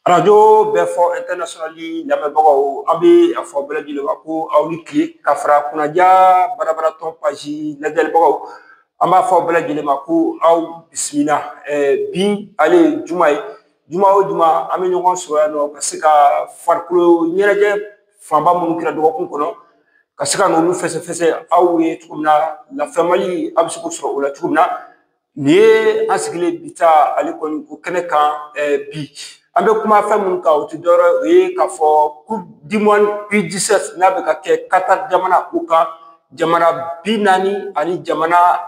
arajo bɛɛ fɔ ɛntɛrinasiyɔnali lamɛnbagaw an bɛ a fɔ bɛɛ lajɛlen ma ko aw ni tile ka fara kunnaja barabaratɔ paji lajɛlibagaw an b'a fɔ bɛɛ lajɛlen ma ko aw bisimila bi ale ye juma ye juma o juma an bɛ ɲɔgɔn sɔrɔ yan nɔ ka se ka farikolo ɲɛnajɛ fanba minnu kɛra dɔgɔkun kɔnɔ ka se ka n'olu fɛsɛfɛsɛ aw ye cogo min na lafaamuyali a bɛ se k'o sɔrɔ o la cogo min na Nin ye an sigilen bi ta ale kɔni o kɛnɛ kan bi an bɛ kuma fɛn minnu kan o tɛ dɔwɛrɛ ye o ye k'a fɔ coupe du monde U17 n'a bɛ ka kɛ Kata jamana ko kan jamana bi naani ani jamana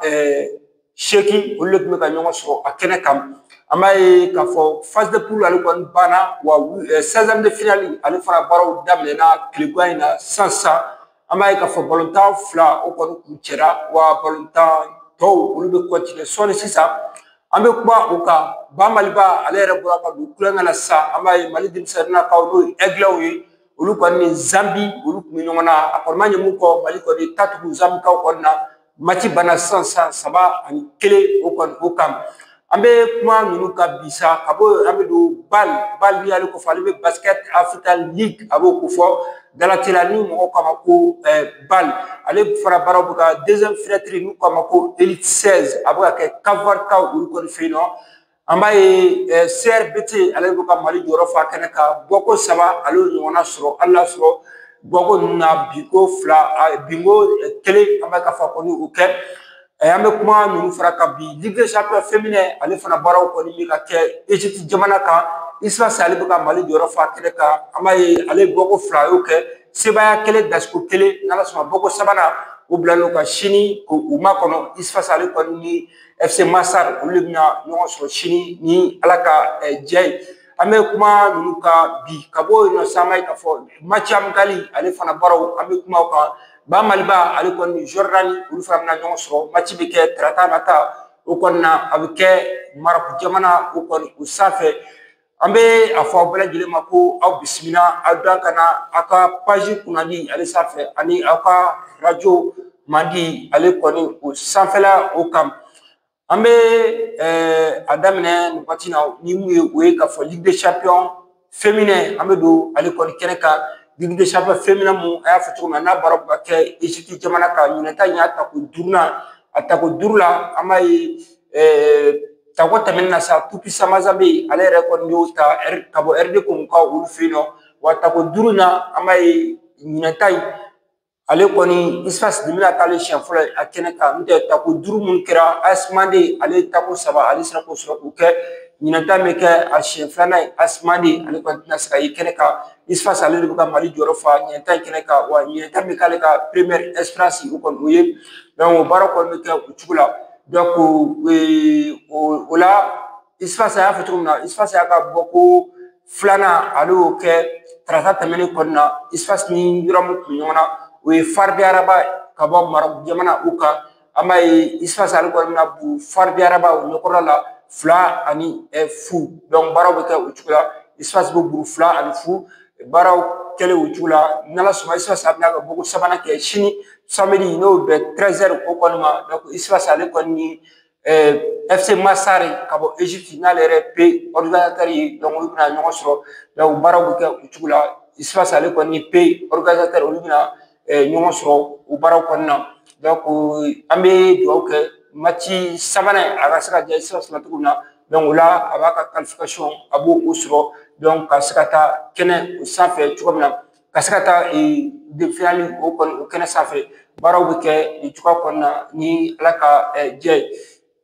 seegin olu de tun bɛ ka ɲɔgɔn sɔrɔ a kɛnɛ kan an b'a ye k'a fɔ phase de poule ale kɔni banna wa seizième de finale ale fana baaraw daminɛna tile gan in na sisan an b'a ye k'a fɔ balontan fila o kɔni kun cɛra wa balontan tɔw olu bɛ continuer sɔɔni sisan an bɛ kuma o kan ba maliba ale yɛrɛ bɔra ka don kulonkɛ la sisan an b'a ye mali denmisɛnninnakaw n'o ye ɛgilɛw ye olu kɔni ni zanbi olu tun bɛ ɲɔgɔn na a kɔni ma ɲɛ mun kɔ mali kɔni ta tugu zanbikaw kɔni na Mati banna sisan saba ani kelen o kɔni o kan an bɛ kuma ninnu kan bi sa ka bɔ an bɛ don bal bal ni ale ko fɔ ale bɛ basket africa league a b'o ko fɔ dalateliya ni mɔgɔw k'a ma ko bal ale fara baaraw bɛ ka deuxième fenêtre n'u k'a ma ko élite seize a bɛ ka kɛ Cap-Vert kaw olu kɔni fɛ yen nɔ an b'a ye CRBT ale bɛ ka Mali jɔyɔrɔ fa kɛnɛ kan bɔko saba ale y'o ɲɔgɔnna sɔrɔ hali n'a sɔrɔ bɔko ninnu na binko fila binko kelen an bɛ ka fa kɔni o kɛ an bɛ kuma ninnu fara kan bi Ligue des champions féminin ale fana baaraw kɔni bɛ ka kɛ Egypte jamana kan USFAS ale bɛ ka Mali jɔyɔrɔ fa kɛnɛ kan an b'a ye ale ye bɔko fila a y'o kɛ sebaaya kelen dasiko kelen n'Ala sɔnna bɔko sabanan o bilalen don ka sini k'u makɔnɔ USFAS ale kɔni ni olu de bɛna ɲɔgɔn sɔrɔ sini ni Ala ka jɛ ye an bɛ kuma ninnu kan bi ka bɔ yen nɔ sisan an b'a ye k'a fɔ mati amikali ale fana baaraw an bɛ kuma o kan ba Maliba ale kɔni ni Jɔrɔdani olu fana bɛna ɲɔgɔn sɔrɔ mati bɛ kɛ tarata nata o kɔni na a bɛ kɛ Marɔku jamana o kɔni o sanfɛ An bɛ a fɔ aw bɛɛ lajɛlen ma ko aw bisimila aw da ka na aw ka paji kunnadi ale sanfɛ ani aw ka arajo mandi ale kɔni o sanfɛla o kan an bɛ a daminɛ nin waati na ni mun ye o ye k'a fɔ Ligue des champions féminin an bɛ don ale kɔni kɛnɛ kan Ligue des champions féminin min a y'a fɔ cogo min na n'a baara bɛ ka kɛ Egypte jamana kan ɲinɛ ta in y'a tako duurunan a tako duuru la an b'a ye Tako tɛmɛnen na sa Tout Puissant Mazembe ale yɛrɛ kɔni y'o ta ka bɔ RD Congo kan olu fɛ yen nɔ wa tako duuru na an b'a ye ɲinɛ ta in ale kɔni USFAS de bɛna kɛ ale siɲɛ fɔlɔ ye a kɛnɛ kan n'o tɛ tako duuru minnu kɛra AS Mandé ale ye tako saba ale sera k'o sɔrɔ k'o kɛ ɲinɛ ta in bɛ kɛ a siɲɛ filanan ye AS Mandé ale kɔni tɛna se ka ye kɛnɛ kan USFAS ale de bɛ ka mali jɔyɔrɔ fa ɲinɛ ta in kɛnɛ kan wa ɲinɛ ta in bɛ k'ale ka première expérience o kɔni o ye o baara kɔni bɛ kɛ o cogo la o la USFAS an y'a fɔ cogo min na USFAS y'a ka bɔko filanan ale y'o kɛ tarata tɛmɛnen kɔnɔna na USFAS ni yɔrɔ min kun ɲɔgɔn na o ye FAR de Rabat ka bɔ Maroc jamana o kan an b'a ye USFAS ale kɔni bɛna bugɔ FAR de Rabat o ɲɛkɔrɔla la fila ani fu donc baaraw bɛ kɛ o cogo la USFAS bɛ bugɔ fila ani fu baaraw kɛlen o cogo la n'ala sɔnna USFAS a bɛna ka bɔko sabanan kɛ sini samedi n'o bɛ treize heures o kɔni ma donc USFAS ale kɔni ni fc masar ka bɔ egypte n'ale yɛrɛ pays organisateur ye donc olu bɛna ɲɔgɔn sɔrɔ donc baaraw bɛ kɛ o cogo la USFAS ale kɔni ni pays organisateur olu bɛna ɲɔgɔn sɔrɔ o baaraw kɔnɔna na donc an bɛ dugawu kɛ match sabanan a ka se ka diya USFAS la cogo min na donc o la a b'a ka qualification a b'o sɔrɔ donc ka se ka taa kɛnɛ o sanfɛ cogo min na ka se ka taa demi-finale o kɔni o kɛnɛ sanfɛ baaraw bɛ kɛ nin cogoya kɔnɔna ni ala ka diya ye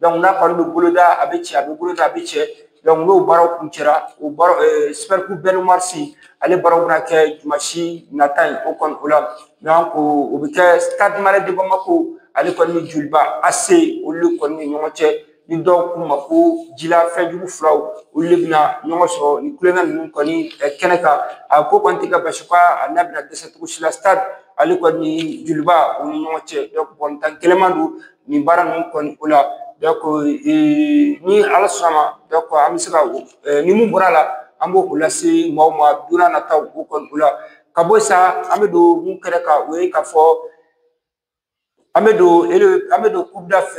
n'a kɔni bɛ boloda a bɛ cɛn a bɛ boloda a bɛ cɛn donc n'o baaraw kuncɛra o baara super coupe Ben Oumar Sy ale baaraw bɛna kɛ dimansi nata in o kɔni o la donc o bɛ kɛ Stade Malien de Bamako ale kɔni ni joliba AC olu de kɔni ni ɲɔgɔn cɛ ni dɔw k'u ma ko jila fɛn jugu filaw olu de bɛna ɲɔgɔn sɔrɔ nin kulonkɛ ninnu kɔni kɛnɛ kan a ko kɔni tɛ ka basi ka n'a bɛna dɛsɛ cogo si la stade ale kɔni joliba u ni ɲɔgɔn cɛ balontan gɛlɛnman don nin baara ninnu kɔni o la donc ni ala sɔnna a ma donc an bɛ se ka ni min bɔra a la an b'o lase maaw ma don nataw o kɔni o la ka bɔ yen sa an bɛ don min kɛnɛ kan o ye k'a fɔ an bɛ don an bɛ don coupe d'Af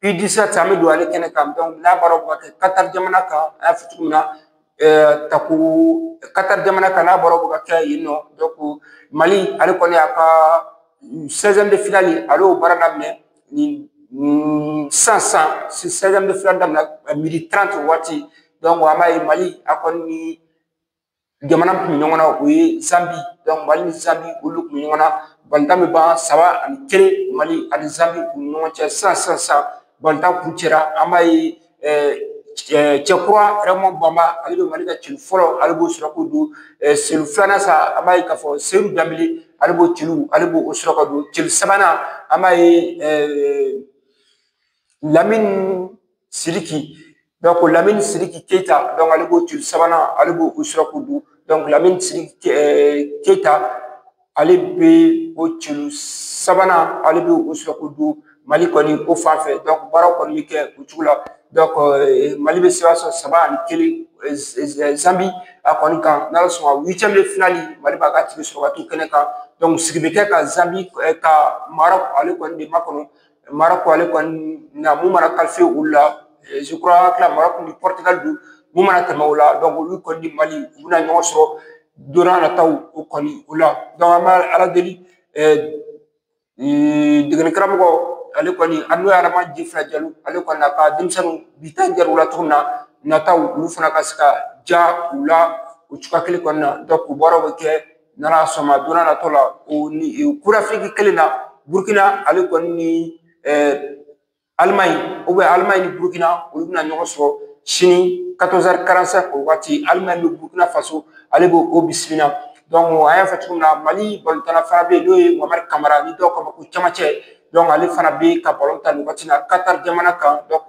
an bɛ don ale kɛnɛ kan donc n'a baara bɛ ka kɛ Qatar jamana kan a y'a fɔ cogo min na ta ko Qatar jamana kan n'a baara bɛ ka kɛ yen nɔ donc mali ale kɔni y'a ka seizième de finale ale y'o baara daminɛ nin sisan sisan seizième de finale daminɛ midi trente waati donc an b'a ye mali a kɔni jamana kun bɛ ɲɔgɔn na o ye zanbi mali ni zanbi olu kun bɛ ɲɔgɔn na balontan bɛ ban saba ani kelen mali ani zanbi u ni ɲɔgɔn cɛ sisan sisan sisan balontan kuncɛra an b'a ye cɛkura Raymond banba ale bɛ mali ka celu fɔlɔ ale b'o sɔrɔ k'o don celu filanan sa an b'a ye k'a fɔ seyidu danbele ale b'o sɔrɔ ka don celu sabanan an b'a ye lamini siriki donc lamini siriki keyita ale b'o bi sabanan ale b'o sɔrɔ k'o don lamini keyita ale bɛ o bi sabanan ale bɛ o sɔrɔ k'o don mali kɔni o fan fɛ baara kɔni bɛ kɛ o cogo la mali bɛ sebaaya sɔrɔ saba ani kelen zanbi a kɔni kan n'ala sɔnna huitième de finale mali b'a ka tike sɔrɔ ka t'o kɛnɛ kan sigi bɛ kɛ ka zanbi ka marɔku ale kɔni de makɔnɔ marɔku ale kɔni na mun mana qualifié o la je crois que la marɔku ni pɔritigali don mun mana tɛmɛ o la olu kɔni ni mali u bɛna ɲɔgɔn sɔrɔ don n'a nataw o kɔni o la an bɛ ala deli degelikaramɔgɔ ale kɔni an n'o ye adama jefila jalo ale kɔni n'a ka denmisɛnninw bi ta diyara u la cogo min na nataw olu fana ka se ka diya u la o cogoya kelen kɔnɔna na u baaraw bɛ kɛ n'ala sɔnna a ma don n'a nataw la o ni ko afiriki kelen na burukina ale kɔni ni alimaɲi alimaɲi ni burukina olu bɛna ɲɔgɔn sɔrɔ sini quatorze heures quarante-cinq o waati alimaɲi ni burukina faso ale b'o bisimila donc an y'a fɔ cogo min na mali balontanna fana bɛ yen n'o ye mohamɛdi kamara ni dɔw k'a ma ko camancɛ donc ale fana bɛ ka balon tan nin waati in na katari jamana kan donc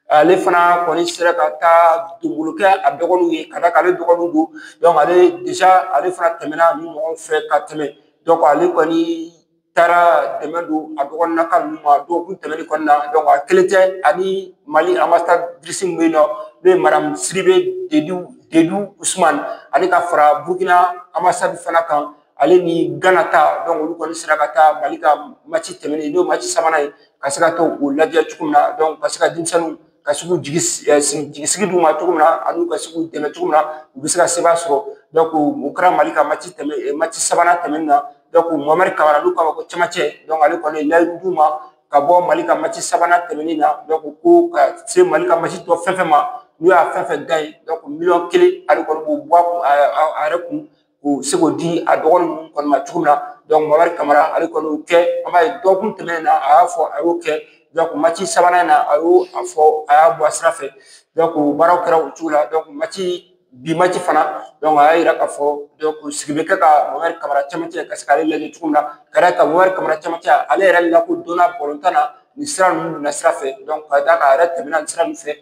Ale fana kɔni sera ka taa donbolo kɛ a dɔgɔninw ye ka d'a kan ale dɔgɔninw don donc ale déjà ale fana tɛmɛna nin ɲɔgɔn fɛ ka tɛmɛ donc ale kɔni taara dɛmɛ don a dɔgɔninnaka ninnu ma dɔgɔkun tɛmɛnen kɔnɔna na donc a kelen tɛ ani Mali ambassadrice min bɛ yen nɔ n'o ye Madamu Sidibe Dedewu Usumani ani ka fara Burukina ambassade fana kan ale ni gana ta olu kɔni sera ka taa mali ka mati tɛmɛnen n'o mati sabanan ye ka se ka taa o lajɛ cogo min na ka se ka denmisɛnninw ka se k'u jigisigi d'u ma cogo min na ani u ka se k'u dɛmɛ cogo min na u bɛ se ka sebaaya sɔrɔ o kɛra mali ka mati tɛmɛ mati sabanan tɛmɛnen na mohamɛdi kamara n'u k'a ma ko camancɛ ale kɔni ye layidu d'u ma ka bɔ mali ka mati sabanan tɛmɛnen na ko ka se mali ka mati tɔ fɛn fɛn ma n'u y'a fɛn fɛn gaɲe miliyɔn kelen ale kɔni b'o bɔ a yɛrɛ kun ka se k'o di a dɔgɔnin ninnu kɔni ma cogo min na mohamɛdi kamara ale kɔni y'o kɛ an b'a ye dɔgɔkun tɛmɛnen na a y'a fɔ a y'o kɛ mati sabanan in na a y'o fɔ a y'a bɔ a sira fɛ baaraw kɛra o cogo la mati bi mati fana a y'a yira k'a fɔ ko sigi bɛ kɛ ka mohamɛdi kamara camancɛ ka se k'ale lajɛ cogo min na ka d'a kan mohamɛdi kamara camancɛ ale yɛrɛ lakodɔnna balontan na nin sira ninnu na sira fɛ ka d'a kan a yɛrɛ tɛmɛna nin sira ninnu fɛ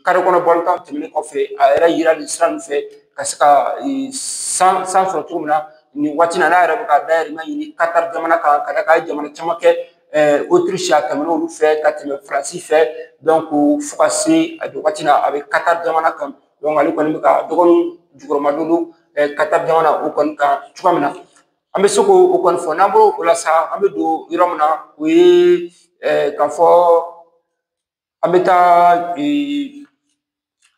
kare kɔnɔ balontan tɛmɛnen kɔfɛ a yɛrɛ yira nin sira ninnu fɛ ka se ka sansi sɔrɔ cogo min na nin waati in na n'a yɛrɛ bɛ ka dayirimɛ ɲini katari jamana kan ka d'a kan a ye jamana caman kɛ otirisi a tɛmɛna olu fɛ ka tɛmɛ faransi fɛ donc fo ka se a don waati la a bɛ katari jamana kan ale kɔni bɛ k'a dɔgɔninw jukɔrɔmadon katari jamana o kɔni kan cogoya min na An bɛ se k'o o kɔni fɔ n'an bɔr'o la sa an bɛ don yɔrɔ min na o ye k'a fɔ an bɛ taa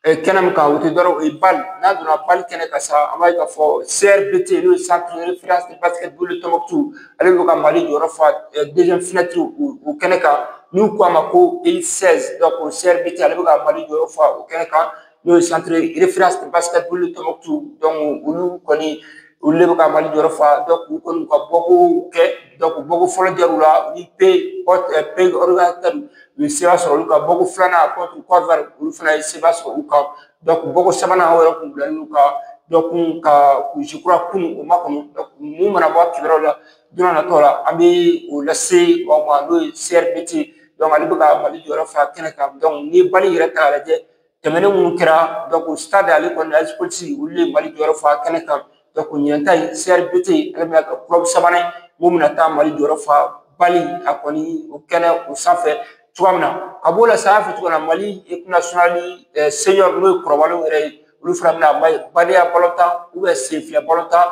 kɛnɛ min kan o tɛ dɔwɛrɛ o ye BAL n'a donna BAL kɛnɛ kan sa an b'a ye k'a fɔ CRBT n'o ye centre de référence de basketball de Tombouctou ale bɛ ka Mali jɔyɔrɔ fa deuxième fenêtre o kɛnɛ kan n'u k'a ma ko élite seize donc CRBT ale bɛ ka Mali jɔyɔrɔ fa o kɛnɛ kan n'o ye centre de référence de basketball de Tombouctou donc olu kɔni olu de bɛ ka mali jɔyɔrɔ fa k'u kɔni ka bɔko kɛ bɔko fɔlɔ diyar'u la u ni pays organisateur u ye seba sɔrɔ olu ka bɔko filanan contre Côte d'Ivoire olu fana ye seba sɔrɔ u kan bɔko sabanan o yɛrɛ kun bilalen don ka dɔ kun ka kurusi kura kun u ma kɔnɔ mun mana bɔ a kibaruyaw la don dɔ nataw la an bɛ o lase aw ma n'o ye CRBT donc ale bɛ ka mali jɔyɔrɔ fa kɛnɛ kan n'i ye BAL yɛrɛ ta k'a lajɛ tɛmɛnen minnu kɛra donc Stade ale kɔni AS Police olu ye mali jɔyɔrɔ fa kɛnɛ kan ɲinan ta in CRBT ale bɛna kɛ club sabanan ye min bɛna taa mali jɔyɔrɔ fa BAL a kɔni o kɛnɛ o sanfɛ cogoya min na ka b'o la sa an y'a fɔ cogo min na mali équipe nationale senior n'o ye kɔrɔbalenw yɛrɛ ye olu fana bɛna badenya balɔntan sen fila balɔntan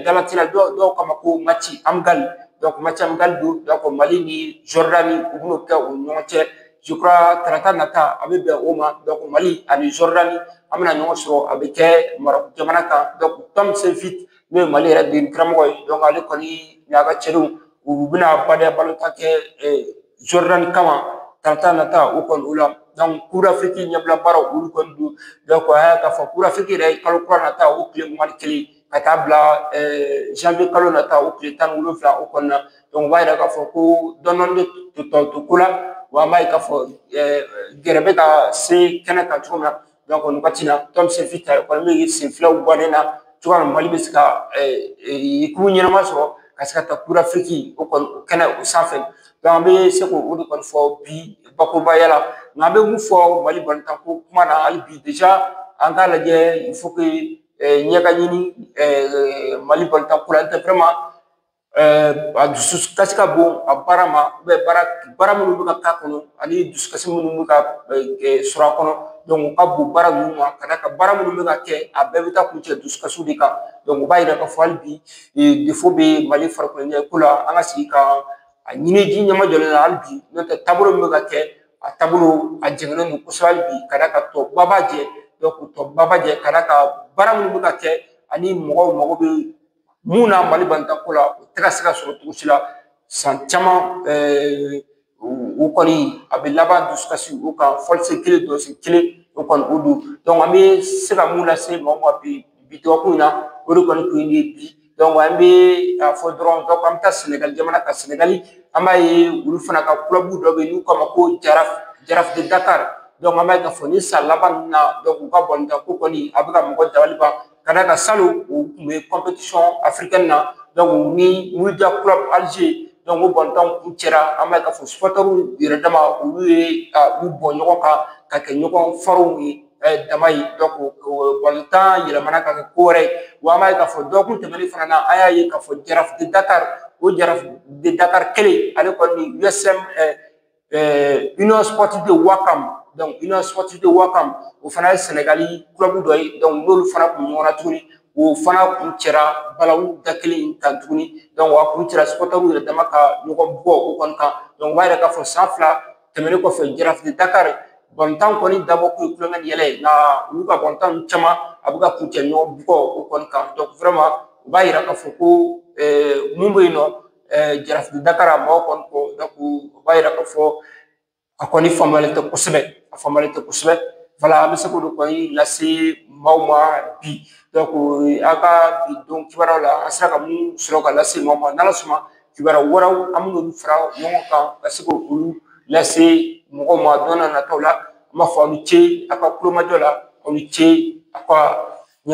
dalatina dɔw k'a ma ko match amical donc match amical don donc mali ni Jordanie u bɛn'o kɛ u ni ɲɔgɔn cɛ tarata nata a bɛ bɛn o ma donc mali ani Jordanie an bɛna ɲɔgɔn sɔrɔ a bɛ kɛ Maroc jamana kan donc Tom Saintfiet n'o ye mali yɛrɛ degeli karamɔgɔ ye donc ale kɔni n'a ka cɛdenw u bɛna badenya balɔntan kɛ Jordanie kama tarata nata o kɔni o la donc Coupe d'Afrique ɲɛbila baaraw olu kɔni don donc a y'a k'a fɔ Coupe d'Afrique yɛrɛ ye kalo kura nata o tile mugan ni kelen ka taa bila janvier kalo nata o tile tan ni wolonwula o kɔnɔna na o b'a yira k'a fɔ ko dɔɔni tɔ ko la wa an b'a ye k'a fɔ gɛrɛ bɛ ka se kɛnɛ kan cogo min na nin wagati la Tom Saintfiet o kɔni bɛ sen filaw bɔ ne na cogoya min mali bɛ se ka équipe ɲɛnama sɔrɔ ka se ka taa Coupe d'Afrique o kɔni kɛnɛ o sanfɛ an bɛ se k'o o de kɔni fɔ bi bakurubaya la nka an bɛ mun fɔ mali balɔntan ko kuma na hali bi déjà an k'a lajɛ ɲɛ ka ɲini Mali balontan ko la n'o tɛ vraiment a dusukasi ka bon a baara ma baara minnu bɛ ka k'a kɔnɔ ani dusukasi minnu bɛ ka sɔrɔ a kɔnɔ u ka bon baara ninnu ma ka d'a kan baara minnu bɛ ka kɛ a bɛɛ bɛ taa kuncɛ dusukasiw de kan o b'a yira k'a fɔ hali bi défaut bɛ Mali farikoloɲɛnajɛko la an ka sigi ka a ɲini ji ɲɛmajɔlen na hali bi n'o tɛ taabolo min bɛ ka kɛ a taabolo a jɛngɛnen don kosɛbɛ hali bi ka d'a kan tɔba b'a jɛ donc tɔba b'a jɛ ka d'a kan baara minnu bɛ ka kɛ ani mɔgɔw mago bɛ mun na mali balɔntan ko la o tɛ ka se ka sɔrɔ cogo si la san caman o kɔni a bɛ laban dusukasi o kan fɔlisen kelen dɔnsen kelen o kɔni o don donc an bɛ se ka mun lase mɔgɔw ma bi bi dɔgɔkun in na o de kɔni kun ye bi an bɛ a fɔ dɔrɔn an bɛ taa sɛnɛgali jamana kan sɛnɛgali an b'a ye olu fana ka club dɔ bɛ yen n'u k'a ma ko Jaraaf de Dakar an b'a ye k'a fɔ ni san laban ninnu na u ka balontan ko kɔni a bɛ ka mɔgɔ dabali ban ka d'a kan salon u kun bɛ compétition africaine na ni Mouloudia club Alger o balontanw kuncɛra an b'a ye k'a fɔ supporters yɛrɛ dama olu ye u bɔn ɲɔgɔn kan ka kɛ ɲɔgɔn farinw ye dama ye donc balontan yɛlɛmana ka kɛ ko wɛrɛ ye wa an b'a ye k'a fɔ dɔgɔkun tɛmɛnen fana na an y'a ye k'a fɔ Jaraaf de Dakar o Jaraaf de Dakar kelen ale kɔni USM Union Sportive de Ouakam donc Union Sportive de Ouakam o fana ye sɛnɛgali club dɔ ye n'olu fana kun ɲɔgɔn na tuguni o fana kuncɛra balawu da kelen in kan tuguni a kuncɛra supporters yɛrɛ dama ka ɲɔgɔn bugɔ o kɔni kan o b'a yira k'a fɔ san fila tɛmɛnen kɔfɛ Jaraaf de Dakar balontan kɔni dabɔ kun ye kulonkɛ ni yɛlɛ ye nka olu ka balontan ninnu caman a bɛ ka kuncɛ ɲɔgɔn bugɔ o kɔni kan vraiment o b'a yira k'a fɔ ko mun bɛ yen nɔ Jaraaf de Dakar a mɔgɔ kɔni kɔ o b'a yira k'a fɔ a kɔni faamuyalen tɛ kosɛbɛ a faamuyalen tɛ kosɛbɛ voilà an bɛ se k'olu kɔni lase maaw ma bi a ka bi don kibaruyaw la an sera ka mun sɔrɔ ka lase maaw ma n'ala sɔnna kibaruya wɛrɛw an bɛn'olu fara ɲɔgɔn kan ka se k'olu lase mɔgɔw ma don na nataw la an b'a fɔ aw ni ce a ka kulomajɔ la aw ni ce a ka ɲɛma